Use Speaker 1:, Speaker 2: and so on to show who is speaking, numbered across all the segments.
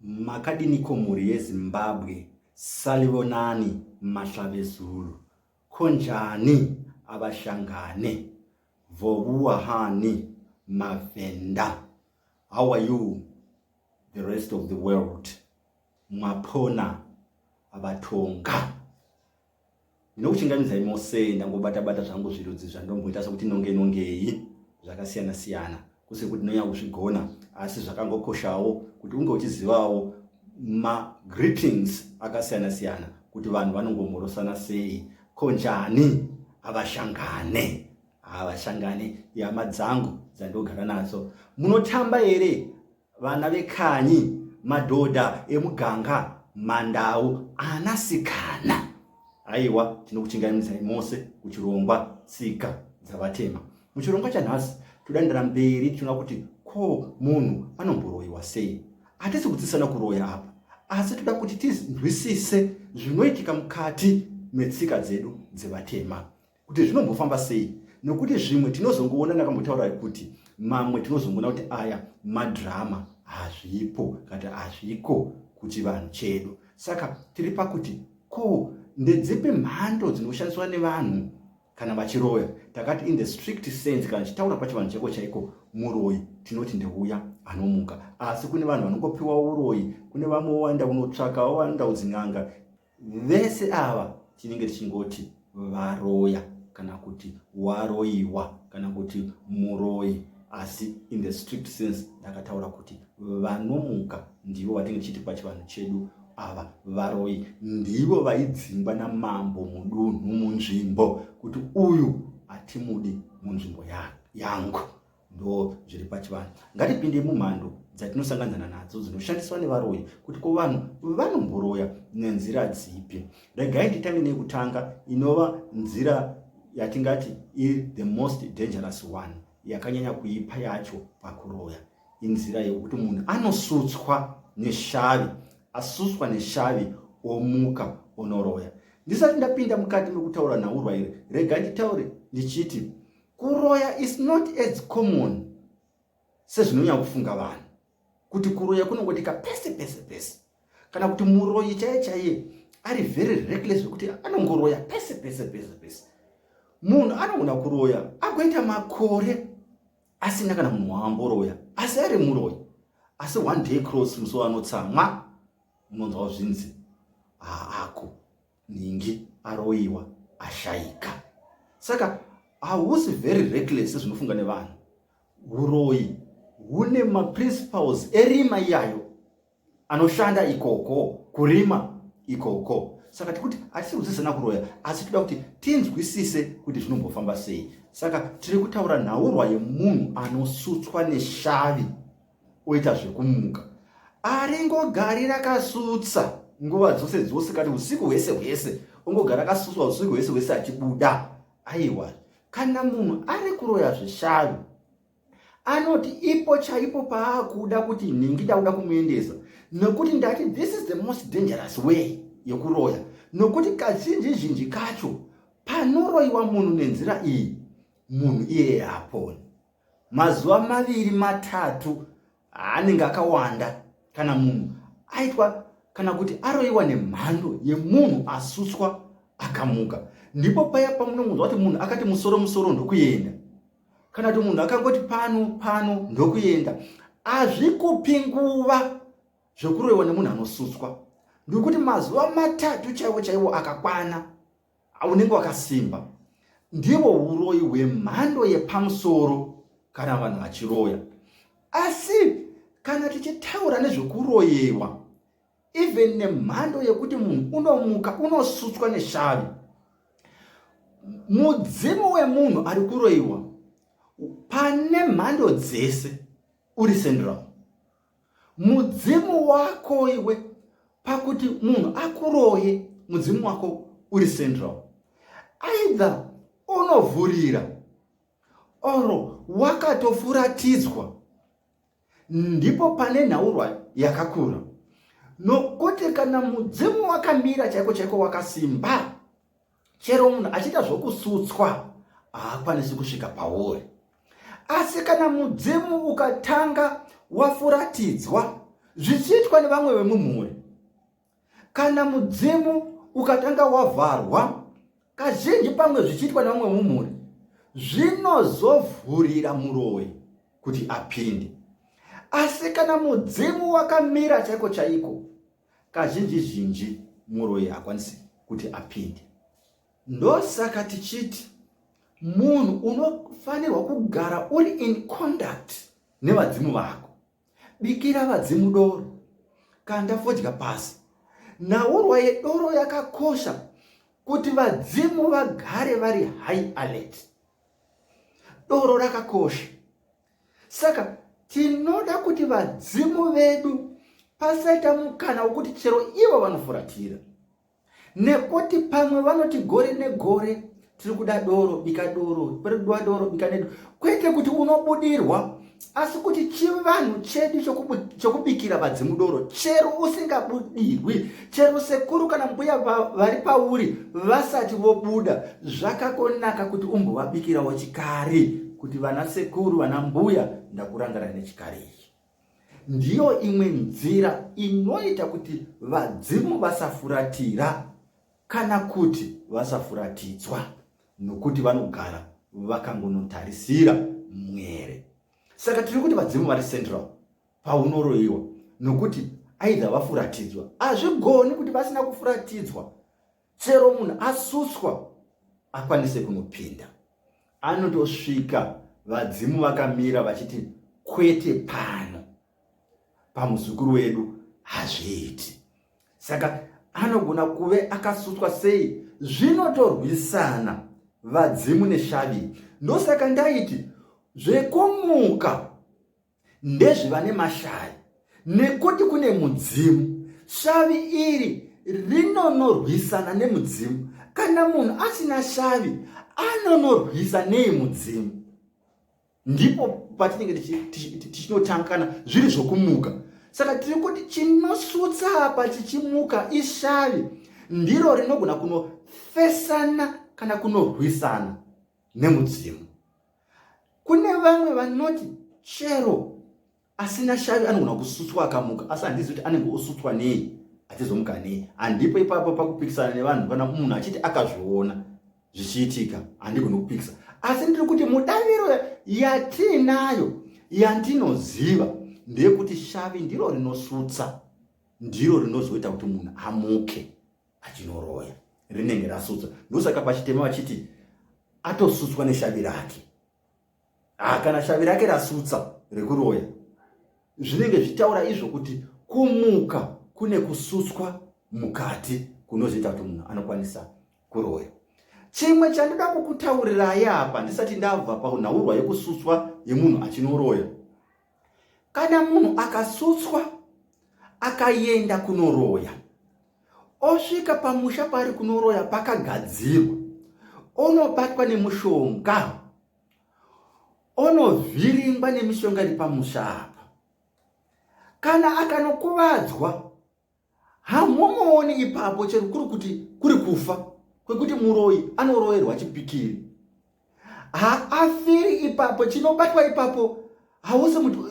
Speaker 1: Makadiniko mhuri yeZimbabwe salivonani mahlavezulu ko njani avashangane vovuwa hani mavhenda how are you the rest of the world mwapona vatonga Ndinokuchingamidza imosei ndangobata bata zvangu zvirudzi zvandomboita sokuti nonge nongei zvakasiyana siyana kusiri kuti ndonyanya kuzvigona asi zvakangokoshawo kuti unge uchizivawo magreetings akasiyana siyana kuti vanhu vanongomhorosana sei ko njani havashangane havashangane ihama dzangu dzandogara nadzo munotamba here Vana vekanyi, madhodha emuganga, mandau, anasikana. Aiwa, tinokuchingamidzai mose kuchirongwa tsika dzavatema. Muchirongwa chanhasi, todandira mberi tichiona kuti ko munhu anomboroyiwa sei. Hatisi kudzisana kuroya apa, asi toda kuti tinzwisise zvinoitika mukati metsika dzedu dzevatema. kuti zvinombofamba sei nokuti zvimwe tinozongoona nakambotaura kuti mamwe tinozongoona kuti aya madhirama hazvipo kati hazviko kuchivanhu chedu saka tiri pakuti ko ndedzipi mhando dzinoshandiswa nevanhu kana vachiroya takati in the strict sense kana chitaura pachivanhu cheko chaiko muroyi tinoti ndeuya anomuka asi kune vanhu vanongopiwa uroyi kune vamwe wowanda unotsvaka wowanda udzin'anga vese ava tinenge tichingoti varoya kana kuti waroiwa kana kuti muroi asi in the strict sense ndakataura kuti vanomuka ndivo vatinge tichiti pachivanhu chedu ava varoi ndivo vaidzingwa namambo mudunhu munzvimbo kuti uyu hatimudi munzvimbo yangu ndo zviri pachivanhu ngatipinde mumhando dzatinosanganana nadzo dzinoshandiswa nevaroyi kuti ko vanhu vanomboroya nenzira dzipi regai nditange nekutanga inova nzira yatingati iri the most dangerous one yakanyanya kuipa yacho pakuroya inzira yekuti munhu anosutswa neshavi asuswa neshavi omuka onoroya ndisati ndapinda mukati mekutaura nhaurwa iri rega nditaure ndichiti kuroya is not as common sezvinonyanya kufunga vanhu kuti kuroya kunongotika pese pese pese kana kuti muroyi chaiye chaiye ari very reckless zvekuti anongoroya pese pese pese pese munhu anogona kuroya agoita makore asina kana munhu waamboroya asi ari muroyi asi one day cross musowa anotsamwa unonzwawo zvinzi haako ah, nhingi aroiwa ashaika saka hausi very reckless sezvinofunga nevanhu uroyi hune maprinciples erima iyayo anoshanda ikoko kurima ikoko saka tikuti hatisi kudzidzisana kuroya asi toda kuti tinzwisise kuti zvinombofamba sei saka tiri kutaura nhaurwa yemunhu anosutswa neshavi oita zvekumuka aringogari rakasutsa nguva dzose dzose kati usiku hwese hwese ongogara akasutswa usiku hwese hwese achibuda aiwa kana munhu ari kuroya zvishanu anoti ipo chaipo paakuda kuti nhingi ndakuda kumuendesa nokuti ndati this is the most dangerous way yekuroya nokuti kazhinji zhinji kacho panoroyiwa munhu nenzira iyi munhu iyeye haaponi mazuva maviri matatu anenge akawanda kana munhu aitwa kana kuti aroyiwa nemhando yemunhu asuswa akamuka ndipo paya pamunongonzwa kuti munhu akati musoro musoro ndokuenda kana kuti munhu akangoti pano pano ndokuenda hazvikupi nguva zvekuroyiwa nemunhu anosuswa ndikuti mazuva matatu chaiwo chaiwo akakwana unenge wakasimba ndiwo uroyi hwemhando yepamusoro kana vanhu vachiroya asi kana tichitaura nezvekuroyewa even nemhando yekuti munhu unomuka unosutswa neshavi mudzimu wemunhu ari kuroyiwa pane mhando dzese uri central mudzimu wako iwe pakuti munhu akuroye mudzimu wako uri central either unovhurira or wakatofuratidzwa ndipo pane nhaurwa yakakura nokuti kana mudzimu wakamira chaiko chaiko wakasimba Chero munhu achiita zvokusutswa haakwanisi kusvika pauri. Asi kana mudzimu ukatanga wafuratidzwa zvichiitwa nevamwe vemumhuri, kana mudzimu ukatanga wavharwa kazhinji pamwe zvichiitwa nevamwe vemumhuri, zvinozovhurira muroyi kuti apinde. Asi kana mudzimu wakamira chaiko chaiko, Kazhinji zhinji muroyi hakwanisi kuti apinde. Ndosaka tichiti munhu unofanirwa kugara uri in conduct nevadzimu vako. Bikira vadzimu doro, kanda fodya pasi. Nhaurwa yedoro yakakosha kuti vadzimu vagare vari high alert. Doro rakakosha. saka tinoda kuti vadzimu vedu pasaita mukana wokuti chero ivo vanofuratira nekuti pamwe vanoti gore negore tiri kuda doro bika doro kuda doro bika nedo kwete kuti unobudirwa asi kuti chivanhu chedu chokubikira vadzimu doro chero usingabudirwi chero sekuru kana mbuya vari pauri vasati vobuda zvakakonaka kuti umbovabikirawo chikari kuti vana sekuru vana mbuya ndakurangana nechikari ichi ndiyo imwe nzira inoita kuti vadzimu vasafuratira kana kuti vasafuratidzwa nokuti vanogara vakangonotarisira mwere saka tiri kuti vadzimu vari central paunoroyiwa nokuti aidha vafuratidzwa hazvigoni kuti vasina kufuratidzwa chero munhu asuswa akwanise kunopinda anotosvika vadzimu vakamira vachiti kwete pano pamuzukuru wedu hazviiti saka anogona kuve akasutswa sei zvinotorwisana vadzimu neshavi ndosaka ndaiti zvekumuka ndezvevane mashaya nekuti kune mudzimu shavi iri rinonorwisana nemudzimu kana munhu asina shavi anonorwisa nei mudzimu ndipo patinenge tichinotanga kana zviri zvokumuka saka tiri kuti chinosutsa apa chichimuka ishavi ndiro rinogona kunofesana kana kunorwisana nemudzimu kune vamwe vanoti chero asina shavi anogona kusutswa akamuka asi handizi kuti anenge osutswa nei atizomuka nei handipo ipapo pakupikisana nevanhu kana munhu achiti akazviona zvichiitika handigoni kupikisa asi ndiri kuti mudaviro yatiinayo yandinoziva ndeyekuti shavi ndiro rinosutsa ndiro rinozoita kuti munhu amuke achinoroya rinenge rasutswa ndosaka pachitema vachiti atosutswa neshavi rake ah, kana shavi rake rasutsa rekuroya zvinenge zvitaura izvo kuti kumuka kune kusutswa mukati kunozoita kuti munhu anokwanisa kuroya chimwe chandida kukutaurirai apa ndisati ndabva panhaurwa yekusutswa yemunhu achinoroya Kana munhu akasutswa akaenda kunoroya osvika pamusha paari kunoroya pakagadzirwa onobatwa nemushonga onovhiringwa nemishonga iri pamusha apa kana akanokuvadzwa hamumooni ipapo chero kuri kuti kuri kufa kwekuti muroyi anoroyerwa chipikiri haafiri ipapo chinobatwa ipapo hausi mutu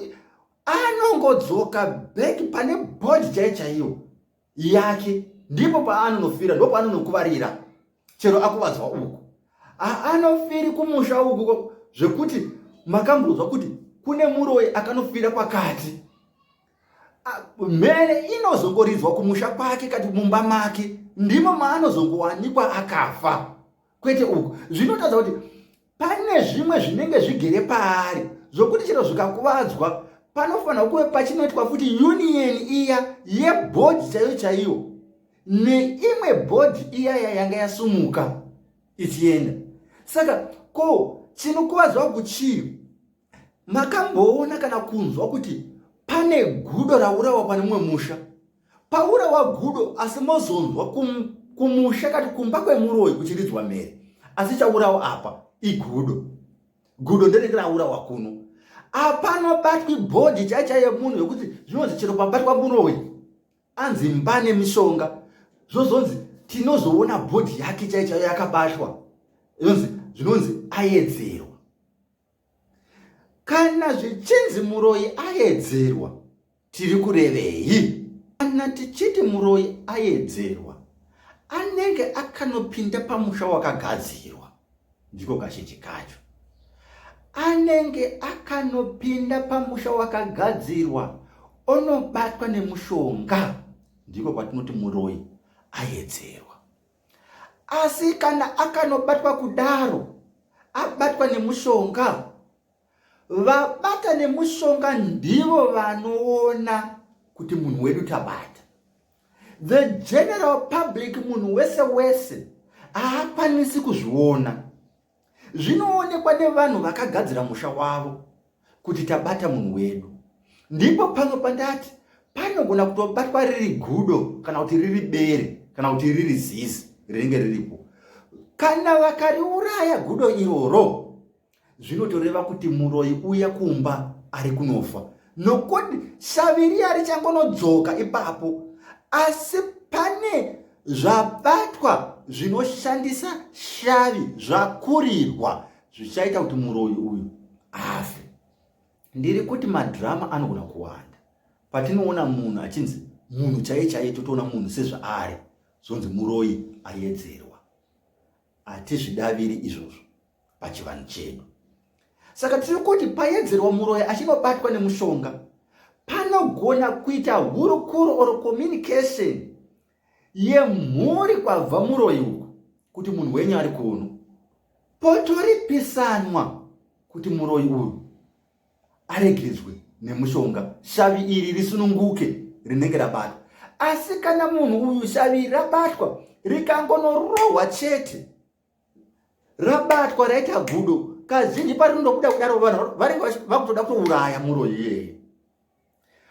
Speaker 1: anongodzoka back pane bodi chai chaiyo yake ndipo paanonofira ndo paanonokuvarira chero akuvadzwa uku haanofiri kumusha uku zvekuti makamboudzwa kuti kune muroyi akanofira pakati mhere inozongoridzwa kumusha kwake kati mumba make ndimo maanozongowanikwa akafa kwete uku zvinotadza kuti pane zvimwe zvinenge zvigere paari zvokuti chero zvikakuvadzwa panofanira kuve pachinoitwa futi union iya yebhodhi chaiyo chaiyo neimwe bhodhi iya yayanga yasumuka ichienda saka ko chinokuvadzwa kuchii Makamboona kana kunzwa kuti pane gudo raurawa pane mumwe musha paurawa gudo asi mozonzwa kum, kumusha kati kumba kwemuroyi kuchiridzwa mhere asi chaurawa apa igudo gudo nderenge raurawa kuno apanobatwi bhodhi chaicha yemunhu yekuti zvinonzi chero pabatwa muroyi anzi mba nemishonga zvozonzi tinozoona bhodhi yake chaichayo yakabatwa zvinonzi ayedzerwa Kana zvichinzi muroyi ayedzerwa, tiri kurevei? Kana tichiti muroyi ayedzerwa, anenge akanopinda pamusha wakagadzirwa, ndiko kazhinji kacho. Anenge akanopinda pamusha wakagadzirwa, onobatwa nemushonga, ndiko kwatinoti muroyi ayedzerwa. asi kana akanobatwa kudaro abatwa nemushonga vabata nemushonga ndivo vanoona kuti munhu wedu tabata the general public munhu wese wese haakwanisi kuzviona zvinoonekwa nevanhu vakagadzira musha wavo kuti tabata munhu wedu ndipo pamwe pandati panogona kutobatwa riri gudo kana kuti riri bere kana kuti riri zizi rinenge riripo kana vakariuraya gudo iroro zvinotoreva kuti muroyi uya kumba ari kunofa nokuti shavi riya richangonodzoka ipapo asi pane zvabatwa zvinoshandisa shavi zvakurirwa zvichaita kuti muroyi uyu afe ndiri kuti madhirama anogona kuwanda patinoona munhu achinzi munhu chaiye chaiye totoona munhu sezvaari zvonzi muroyi ayedzerwa Hatizvidaviri izvozvo pachivanhu chedu. Saka tiri kuti payedzerwa muroyi achinobatwa nemushonga panogona kuita hurukuro or communication yemhuri kwabva muroyi uku kuti munhu wenyu ari kuno potoripisanwa kuti muroyi uyu aregedzwe nemushonga shavi iri risununguke rinenge rabatwa asi kana munhu uyu shavi rabatwa rikangonorohwa chete rabatwa raita gudo kazhinji parinondobuda kudaro vanhu vanenge vakutoda kutouraya muro iyeye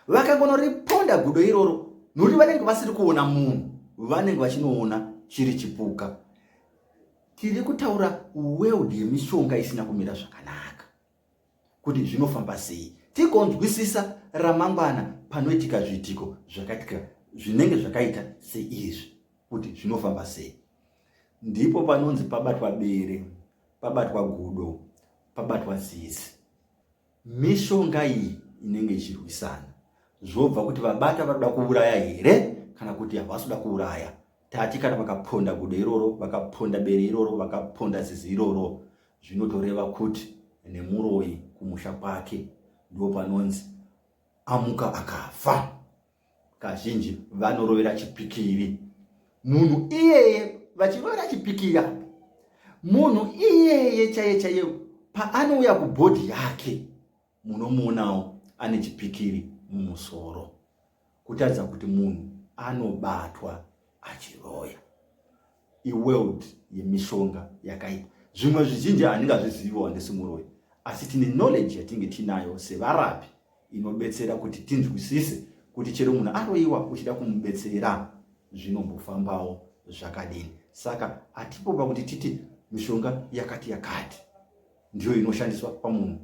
Speaker 1: vakangonoriponda gudo iroro nokuti vanenge vasiri kuona munhu vanenge vachinoona chiri chipuka tiri kutaura world yemishonga isina kumira zvakanaka kuti zvinofamba sei tigonzwisisa ramangwana panoitika zviitiko zvakaitika zvinenge zvakaita seizvi kuti zvinofamba sei ndipo panonzi pabatwa bere pabatwa gudo pabatwa zizi mishonga iyi inenge ichirwisana zvobva kuti vabata vanoda kuuraya here kana kuti havasi kuda kuuraya tati kana vakaponda gudo iroro vakaponda bere iroro vakaponda zizi iroro Zvinotoreva kuti nemuroyi kumusha kwake ndo panonzi amuka akafa. Kazhinji vanorovera chipikiri munhu iyeye vachirovera chipikiri apo munhu iyeye chaiye chaiye paanouya kubhodhi yake munomuonawo ane chipikiri mumusoro kutaridza kuti munhu anobatwa achiroya iworld yemishonga yakaipa zvimwe zvizhinji handingazvizivi wandisi muroyi asi tine knowledge yatinge tinayo sevarapi inobetsera kuti tinzwisise kuti chero munhu aroyiwa uchida kumubetsera zvinombofambawo zvakadini saka atipo pakuti titi mishonga yakati yakati ndiyo inoshandiswa pamunhu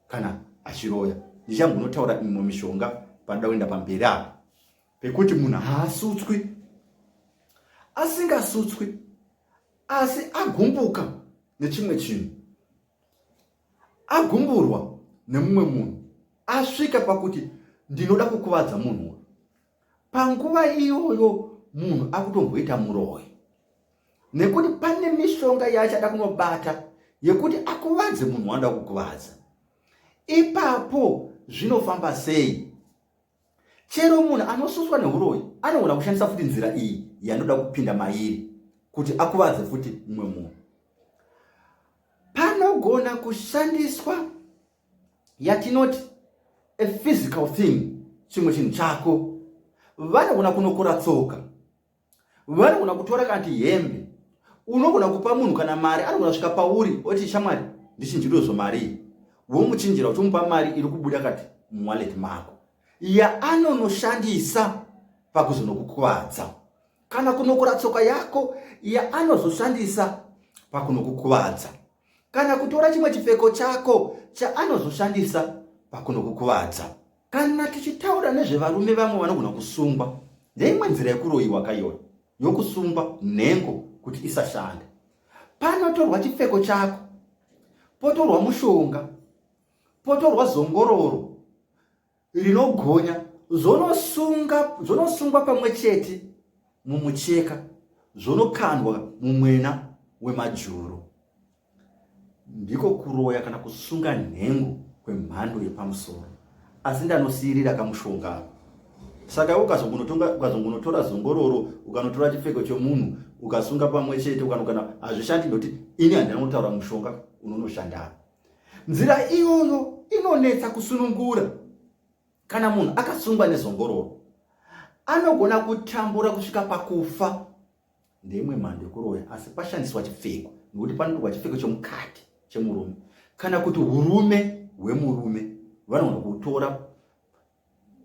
Speaker 1: kana achiroya ndichambonotaura imwe mishonga panoda kuenda pamberi apa pekuti munhu haasutswi asingasutswi asi agumbuka nechimwe chinhu agumburwa nemumwe munhu asvika pakuti ndinoda kukuvadza munhu uyu panguva iyoyo munhu akutomboita muroyi nekuti pane mishonga yaachada kunobata yekuti akuvadze munhu wanoda kukuvadza ipapo zvinofamba sei chero munhu anosuswa neuroyi anogona kushandisa futi nzira iyi yanoda kupinda mairi kuti akuvadze futi mumwe munhu panogona kushandiswa yatinoti a physical thing chimwe chinhu chako vanogona kunokora tsoka vanogona kutora kana ti hembe unogona kupa munhu kana mari anogona svika pauri oti shamwari ndichinjiro zvomarii womuchinjira uchimupa mari iri kubuda kati muwaleti mako yaanonoshandisa pakuzonokukuvadza kana kunokora tsoka yako yaanozoshandisa pakunokukuvadza kana kutora chimwe chipfeko chako chaanozoshandisa pakunokukuvadza. Kana tichitaura nezvevarume vamwe vanogona kusungwa neimwe nzira yekuroyiwa kaiyoyo yokusungwa nhengo kuti isashanda. Panotorwa chipfeko chako, potorwa mushonga, potorwa zongororo, rinogonya zvonosungwa pamwe chete mumucheka zvonokandwa mumwena wemajuru ndiko kuroya kana kusunga nhengo kwemhando yepamusoro asi ndanosiyirira kamushonga saka ukazongonotora zongororo ukanotora chipfeko chomunhu ukasunga pamwe chete ukanogana hazvishandi ndokuti ini handina kunotaura mushonga unonoshandaa Nzira iyoyo inonetsa kusunungura. Kana munhu akasungwa nezongororo, anogona kutambura kusvika pakufa. Ndeimwe mhando yekuroya, asi pashandiswa chipfeko, nokuti panotorwa chipfeko chomukati chemurume kana kuti urume hwemurume vanogona kutora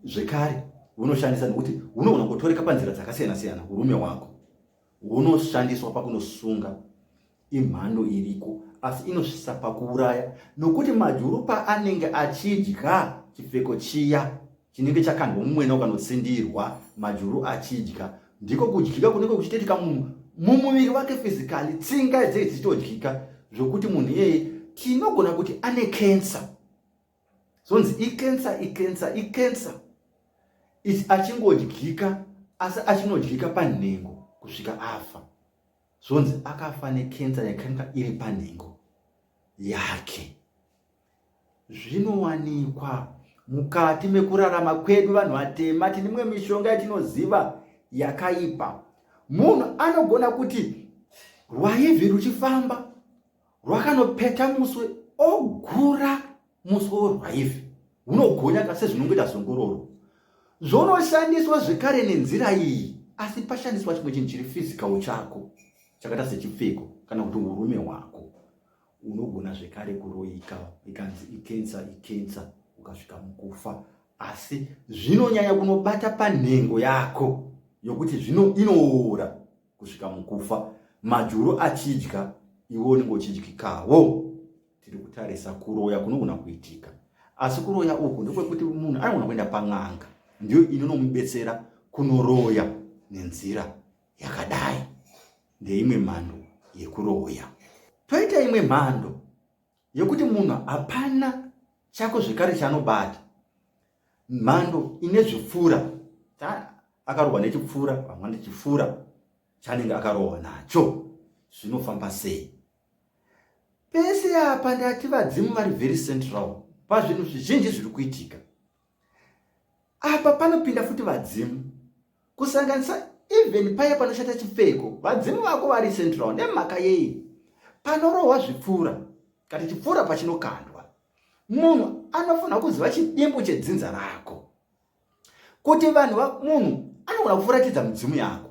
Speaker 1: zvekare hunoshandisa nokuti hunogona kutoreka panzira dzakasiyana siyana urume hwako hunoshandiswa pakunosunga imhando iriko asi inosvisa pakuuraya nokuti majuru paanenge achidya chipfeko chiya chinenge chakandwa mumwena ukanotsindirwa majuru achidya ndiko kudyika kunenge kuchitoitika munhu mumuviri wake fizikali tsinga dzei dzichitodyika zvokuti munhu iyeye tinogona kuti ane kensa zonzi ikensa ikensa ikensa achingodyika asi achinodyika panhengo kusvika afa zvonzi akafa nekensa yakanga iri panhengo yake zvinowanikwa mukati mekurarama kwedu vanhu vatema tine imwe mishonga yatinoziva yakaipa munhu anogona kuti rwaivi ruchifamba rwakanopeta muswe ogura muswe worwaive hunogonyaka sezvinongoita zongororo zvonoshandiswa zvekare nenzira iyi asi pashandiswa chimwe chinhu chiri fizikawo chako chakaita sechipfeko kana kuti urume hwako unogona zvekare kuroyika ikanzi ikensa ikensa ukasvika mukufa asi zvinonyanya kunobata panhengo yako yokuti zvino inoora kusvika mukufa majuru achidya iwo unenge uchidyikawo tiri kutarisa kuroya kunogona kuitika asi kuroya uku ndekwekuti munhu anogona kuenda pan'anga ndiyo inonomubetsera kunoroya nenzira yakadai ndeimwe mhando yekuroya toita imwe mhando yekuti munhu hapana chako zvekare chaanobata mhando ine zvipfuura akarohwa nechipfuura pamwe nechipfuura chanenge akarohwa nacho zvinofamba sei pese apa ndati vadzimu vari very central pazvinhu zvizhinji zviri kuitika apa panopinda futi vadzimu kusanganisa even paya panoshata chipfeko vadzimu vako vari central nemhaka yei panorohwa zvipfuura kana chipfuura pachinokandwa munhu anofanira kuziva chidimbu chedzinza rako kuti vanhu munhu anogona kufuratidza mudzimu yako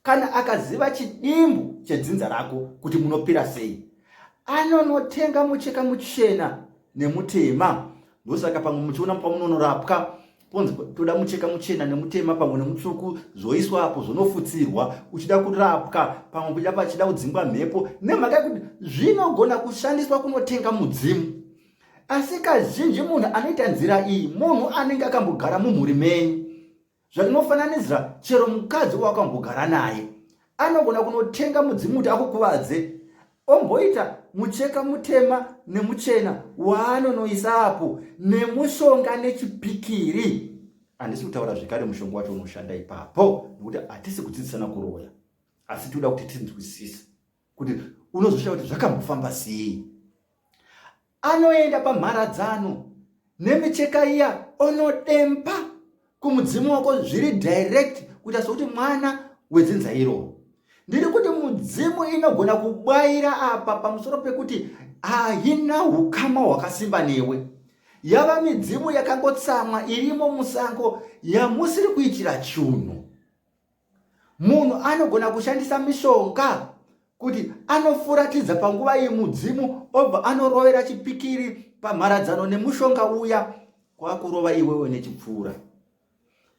Speaker 1: kana akaziva chidimbu chedzinza rako kuti munopira sei anonotenga mucheka muchena nemutema ndosaka pamwe muchiona pamunonorapwa ponzi toda mucheka muchena nemutema pamwe nemutsvuku zvoiswa apo zvonofutsirwa uchida kurapwa pamwe kuda pachida kudzingwa mhepo nemhaka yekuti zvinogona kushandiswa kunotenga mudzimu asi kazhinji munhu anoita nzira iyi munhu anenge akambogara mumhuri menyu Zvandinofananidzira chero mukadzi wakambogara naye anogona kunotenga mudzimuti akukuvadze omboita mucheka mutema nemuchena waanonoisa apo nemushonga nechipikiri handisi kutaura zvekare mushonga wacho unoshanda ipapo nekuti hatisi kudzidzisana kuroya asi tinoda kuti tinzwisise kuti unozoshaya kuti zvakambofamba sei anoenda pamharadzano nemicheka iya onodempa kumudzimu wako zviri direct kuita sokuti mwana wedzinza iroo ndiri kuti mudzimu inogona kubwaira apa pamusoro pekuti haina ukama hwakasimba newe yava midzimu yakangotsamwa irimo musango yamusiri kuitira chunhu Munhu anogona kushandisa mishonga kuti anofuratidza panguva iyi mudzimu obva anorovera chipikiri pamharadzano nemushonga uya kwakurova iwewe nechipfuura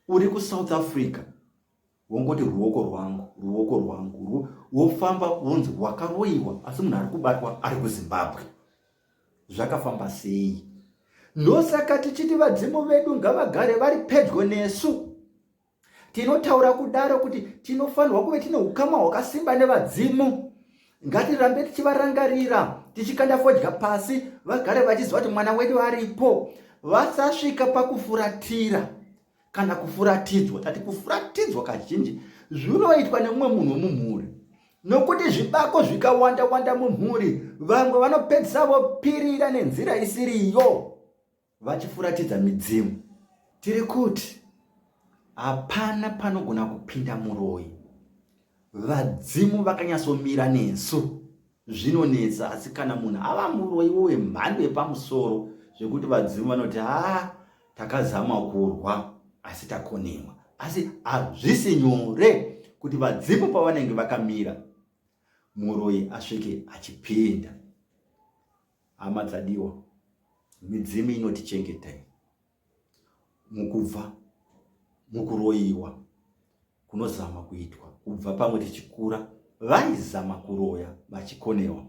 Speaker 1: uri kusouth africa wongoti ruoko rwangu ruoko rwangu wofamba wonzi wakaroiwa asi munhu ari kubatwa ari kuzimbabwe zvakafamba sei ndosaka tichiti vadzimu vedu ngavagare vari pedyo nesu tinotaura kudaro kuti tinofanirwa kuve tine ukama hwakasimba nevadzimu ngatirambe tichivarangarira tichikanda fodya pasi vagare vachiziva kuti mwana wedu aripo vasasvika pakufuratira kana kufuratidzwa tati kufuratidzwa kazhinji zvinoitwa nemumwe munhu wemumhuri nokuti zvibako zvikawanda wanda mumhuri vamwe vanopedzisa vopirira nenzira isiriyo vachifuratidza midzimu tiri kuti hapana panogona kupinda muroyi vadzimu vakanyatsomira nesu zvinonetsa asi kana munhu ava muroyiwo wemhando yepamusoro zvekuti vadzimu vanoti haa takazama kurwa asi takonewa asi hazvisi nyore kuti vadzimu pavanenge vakamira muroyi asvike achipinda Hama dzadiwa, midzimu inotichengetai mukubva mukuroyiwa kunozama kuitwa kubva pamwe tichikura. Vaizama kuroya vachikonewa,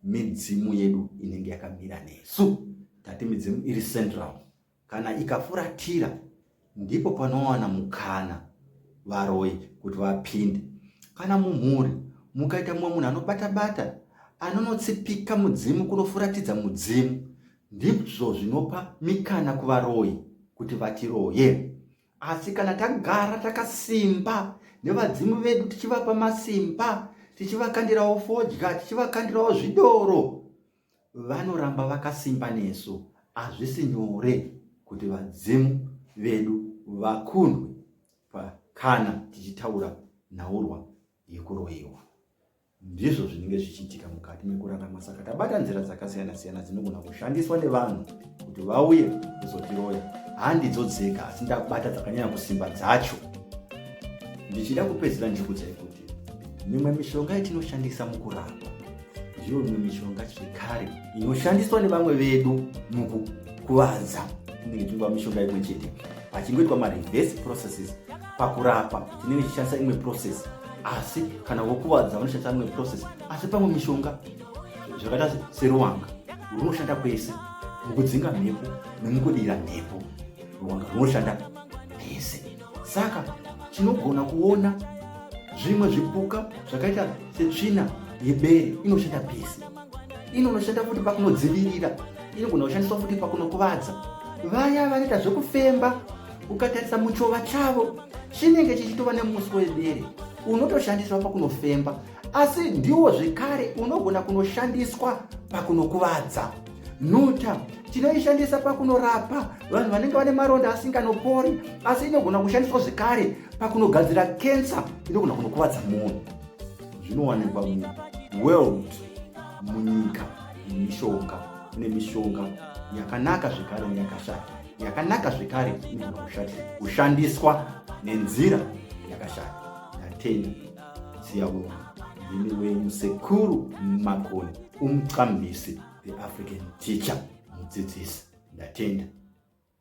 Speaker 1: midzimu yedu inenge yakamira nesu. Tati midzimu iri central. Kana ikafuratira ndipo panowana mukana varoyi kuti vapinde. Kana mumhuri mukaita mumwe munhu anobata-bata anonotsipika mudzimu kunofuratidza mudzimu ndizvo zvinopa mikana kuvaroyi kuti vatiroye asi kana tagara takasimba nevadzimu vedu tichivapa masimba tichivakandirawo fodya tichivakandirawo zvidoro vanoramba vakasimba nesu hazvisi nyore kuti vadzimu vedu vakundwe kana tichitaura nhaurwa yekuroyiwa ndizvo zvinenge zvichiitika mukati mekurarama saka tabata nzira dzakasiyana siyana dzinogona kushandiswa nevanhu kuti vauye kuzotiroya handidzo dzega asi ndakubata dzakanyanya kusimba dzacho ndichida kupedzera ndikudzai kuti mimwe mishonga yatinoshandisa mukurapa ndiyo imwe mishonga chekare inoshandiswa nevamwe vedu mukukuvadza tinenge tichiva mishonga imwe chete pachingoitwa mareverse processes pakurapa tinenge tichishandisa imwe process asi kana wokuvadza vanoshandisa imwe process asi pamwe mishonga zvakaita seruwanga runoshanda kwese mukudzinga mhepo nemukudira mhepo ruwanga runoshanda saka tinogona kuona zvimwe zvipuka zvakaita setsvina yebere inoshanda pese inonoshanda futi pakunodzivirira inogona kushandiswa futi pakunokuvadza vaya vanoita zvekufemba ukatarisa muchova chavo chinenge chichitova nemuswe webere unotoshandiswa pakunofemba asi ndiwo zvekare unogona kunoshandiswa pakunokuvadza nhuta tinoishandisa pakunorapa vanhu vanenge vane maronda asinganopori asi inogona kushandiswa zvekare pakunogadzira kensa inogona kunokuvadza munhu zvinowanikwa muworld munyika nemishonga kune mishonga yakanaka zvekare neyakashata yakanaka zvekare inogona kushandiswa nenzira yakashata yatenda siyabonga ndimi wenyu sekuru makoni umqambisi the african teacher mudzidzisi ndatenda